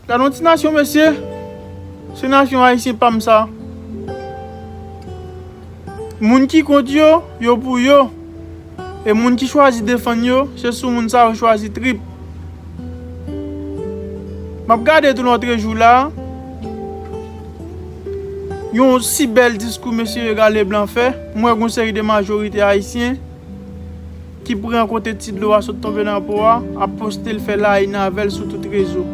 Gadon ti nasyon mesye. Se nasyon ayisyen pam sa. Moun ki kont yo, yo pou yo. E moun ki chwazi defann yo, se sou moun sa yo chwazi trip. Map gade tou lotrejou la. Yon si bèl diskou mesye Edgar Leblanc fè. M wè gon seri de majorite ayisyen. ki pran kote ti dlo a sot tonbe nan po a, ap poste l fè laine avèl sou tout rezo.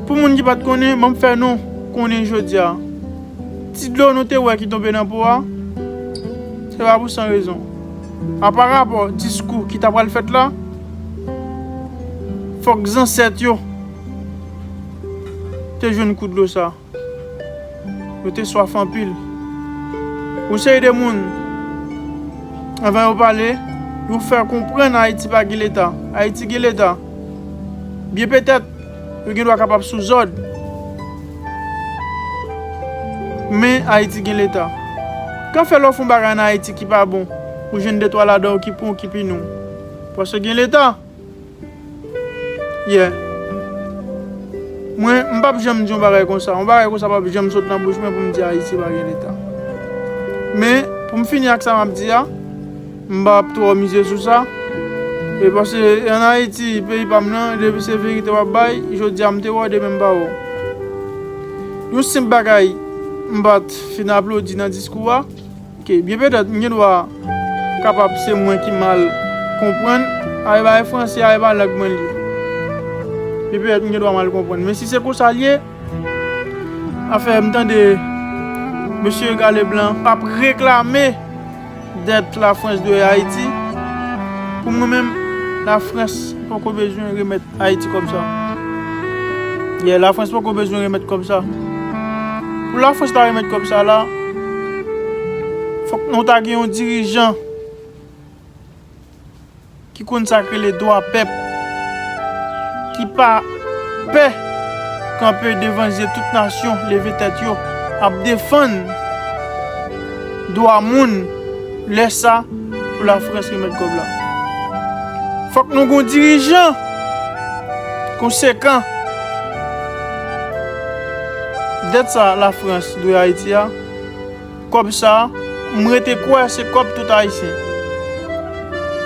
Pou moun ki pat konnen, banm fè nou konnen jodia, ti dlo nou te wè ki tonbe nan po a, se pa pou san rezon. Apa rapò diskou ki ta pral fèt la, fòk zansèt yo te jwenn kou dlo sa. Yo te swaf anpil. Yon seri de moun, anvan yo pale, yo fè konprann Ayiti pa gen Leta. Ayiti gen Leta. Byen petèt, yo gen dwa kapab sou zòd. Men, Ayiti gen Leta. Kan fè lè w fè yon bagay ann Ayiti ki pa bon, ou jwenn de twa ladan yo ki pran w ki pini w. Paske gen Leta. Yeah Mwen m pap janm di yon bagay konsa, yon bagay konsa pap janm sot nan bouch mwen pou m di Ayiti pa gen leta. Men, pou m fini ak sa m ap di a, m pa ap twò mize sou sa, e paske an Ayiti, peyi pa m nan, depi se verite w ap bay, jodi a m te wè w, demen m pa wè w. Yon senp bagay m pa t fin aplodi nan diskou a. Ok byen petèt m gen dwa kapab se mwen ki mal konprann ay bay franse a epa lang mwen li byen petèt m gen dwa mal konprann men si se konsa l ye afè m tande mesye ega leblan p ap reklame dèt lafrans dwe ayiti pou mwen menm lafrans poko bezwen remèt Ayiti kòb sa. Yeah, la France poko bezwen remèt kòb sa. Pou la France ta remèt kòb sa la, fòk nou ta gen yon dirijan ki konn sa k rele dwa pèp, ki pa pè kanpe devan zye tout nasyon leve tèt yo ap defann dwa moun. Lè sa pou la France remèt kob la. Fok nou gon dirijan konsekan. Dèt sa la France dwe Haïti a, kob sa m rete kwè se kob tout Haïtien.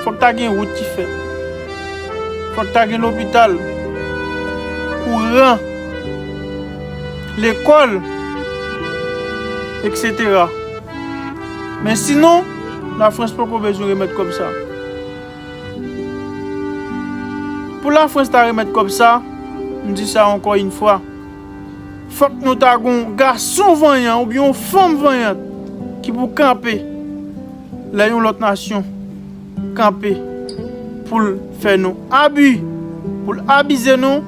Fok ta gen wout ki fèt. Fok ta gen lopital, kouran, lekol etc. Men sinon, la France poko bezwen remèt kòb sa. Pou la France ta remèt kòb sa, m di sa ankò yn fwa, fòk nou ta gon gason vanyan oubyen yon fanm vanyant ki pou kanpe lè yon lòt nasyon kanpe poul fè nou abi, poul abize nou,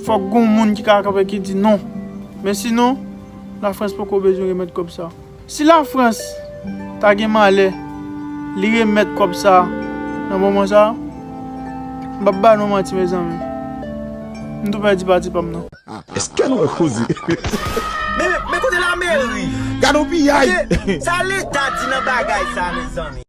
fòk gon moun ki ka kanpe ki di non. Men sinon. La France poko bezwen remèt kòb sa. Si la France ta gen malè li remèt kòb sa nan moman sa, m pap ba nou manti mezanmi. M tou pèdi pati pam nan. Eske nou wè koze. Men kote lameri. Gade yon piyay. Sa leta di nan bagay sa mezanmi.